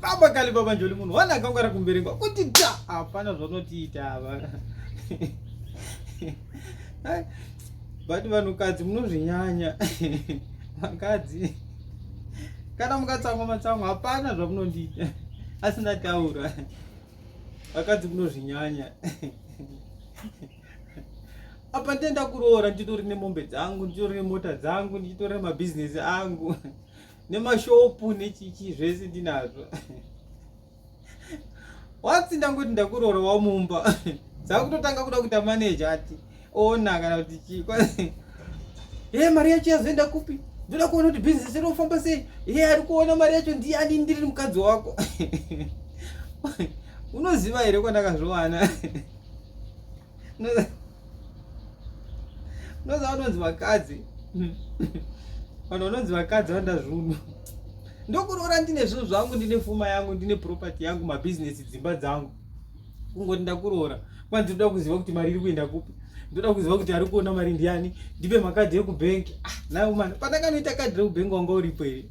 baba kali baba njoli munhu wana akangwara kumberengwa kuti ta hapana zvanotiita ava but vanhukadzi munozvinyanya vakadzi kana mukatsamwa matsamwa hapana zvamunondiita asi ndataura vakadzi munozvinyanya apa ndenda kuroora ndichitori nemombe dzangu ndichitori nemota dzangu ndichitori nemabhizinesi angu nemashopu nechichi zvese ndinazvo watsi ndangoti ndakuroora wamumba dzakutotanga kuda kuita maneja ati ona kana kuti chii ye eh, mari yacho yazoenda kupi ndoda kuona kuti bhizinesi rinofamba sei ye eh, ari kuona mari yacho ndiani ndiri mukadzi wako unoziva here kwandakazviwana unoza vanonzi vakadzi vanhu vanonzi vakadzi vanda zvunhu ndokuroora ndine zvinhu zvangu ndine fuma yangu ndine property yangu mabhizinesi dzimba dzangu kungoti ndakuroora kwanzi ndoda kuziva kuti mari iri kuenda kupi ndoda kuziva kuti ari kuona mari ndiani ndipe makadhi ekubhengi ah, nayo mani pandakanoita kadhi rekubhengi wanga uripo here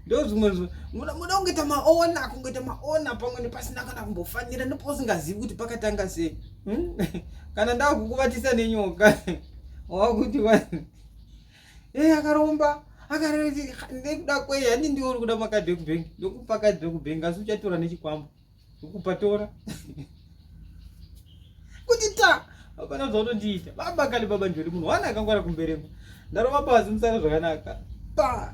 ndozvimwe muda kungoita maona kungoita maona pamwe nepasina kana kumbofanira ndipo usingazivi kuti pakatanga sei hmm? kana ndakukuvatisa nenyoka wakuti vanhu e eh, akaromba akarekuda kwei hani ndiwo uri kuda makadhi ekubank ndokupa kadhi ekubank asi uchatora nechikwambo ukupa tora kuti ta hapana zvaunondiita baba kale baba njori munhu wana akangwara kumberemba ndarova pasi musara zvakanaka pa